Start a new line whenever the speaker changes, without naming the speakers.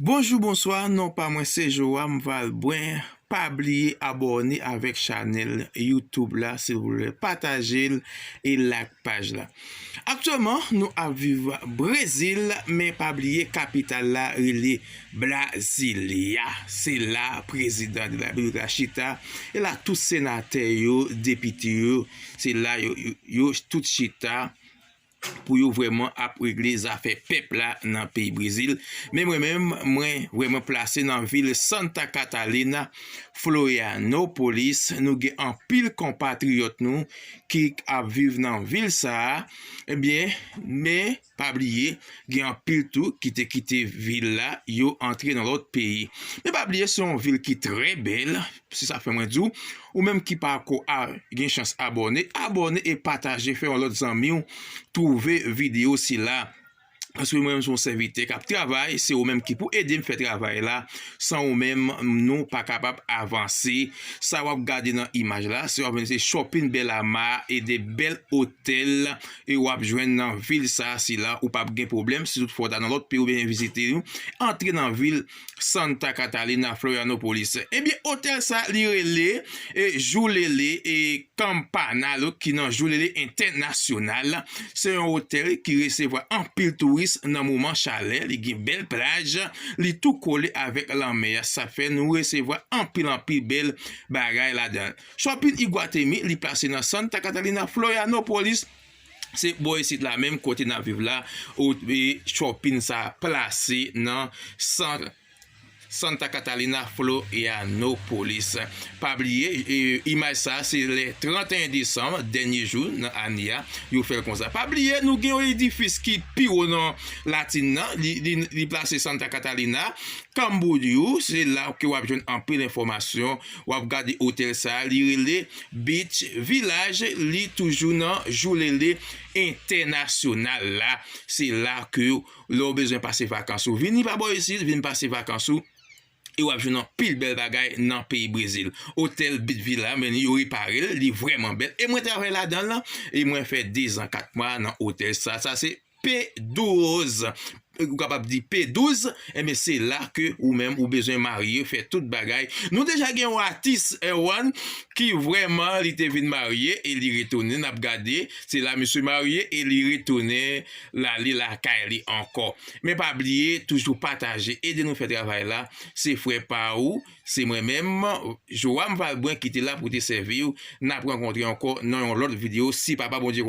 Bonjou bonswa non pa mwen se Joam Valbrun pa bliye abòne avèk chanèl YouTube la silvouplè patajel e like paj la aktyèlman nou ap viv brezil men pa bliye kapital la rele Brasilia se la prezidan de la repiblik la chita e la tout senatè yo depite yo se la yo tout chita. pou yo vrèman ap regle zafè pèp la nan peyi Brezil. Men mwen menm, mwen vrèman plase nan vil Santa Catalina, Florianopolis. Nou gen anpil konpatriyòt nou ki ap viv nan vil sa a. Ebyen, men, pa bliye, gen anpil tou ki te kite vil la, yo antre nan lòt peyi. Men pa bliye se yon vil ki trè bèl. Se sa fè mwen di w, ou menm ki pa ko al gen chans abòne, abòne e pataje fè yon lòt zanmi w twouve videyo sila. Paske mwen menm se yon sèvitè k ap travay, se ou menm ki pou ede m fè travay la. San ou menm, nou pa kapab avanse. Sa w ap gade nan imaj la, se w ap jwenn se Chòpin Bèlama e de bèl otèl e w ap jwenn nan vil sa sila. Ou p ap gen pwoblèm si tout fwa w ta nan lòt peyi ou byen vizite nou. Antre nan vil. Santa Catalina Florianopolis. Ebyen eh otèl sa li rele e Joulele e Campana lo ki nan Joulele Entènasyonal. Se yon otèl ki resevwa anpil touris nan moman chalè, li gen bèl plaj, li tou kole avèk lanmè a sa fè nou resevwa anpil anpil bèl bagay ladan. Shopping Iguatemi li plase nan Santa Catalina Florianopolis. Se bò isit la menm kote nap viv la ou twe chòpin sa plase nan sant Santa Catalina Florianopolis. Pa bliye imaj sa se le 31 desanm dènye jou nan ane a yo fèl konsa. Pa bliye nou gen yon edifis ki pi wo nan latin nan li plase Santa Catalina Camboriú se la ke wap jwenn anpil enfòmasyon. Wap gade otèl sa li rele Beach village li toujou nan joulele entènasyonal la se la ke lè ou bezwen pase vakans ou vini pa bò isit vin pase vakans ou e wap jwenn anpil bèl bagay nan peyi brezil otèl beach villa men yo reparel li vrèman bèl e mwen travay ladanl e mwen fè 2 zan 4 mwa nan otèl sa sa se P 12 ou kapab di p 12 enben se la ke ou menm ou bezwen marye fè tout bagay nou deja gen yon atis Erwan ki vrèman li te vin marye e li retounen nap gade se la misye marye e li retounen lale lakay li ankò men pa bliye toujou pataje ede nou fè travay la se frè pa ou se mwen menm Joam Valbrun ki te la pou te sèviw nap rankontre ankò nan yon lòt video si papa Bondye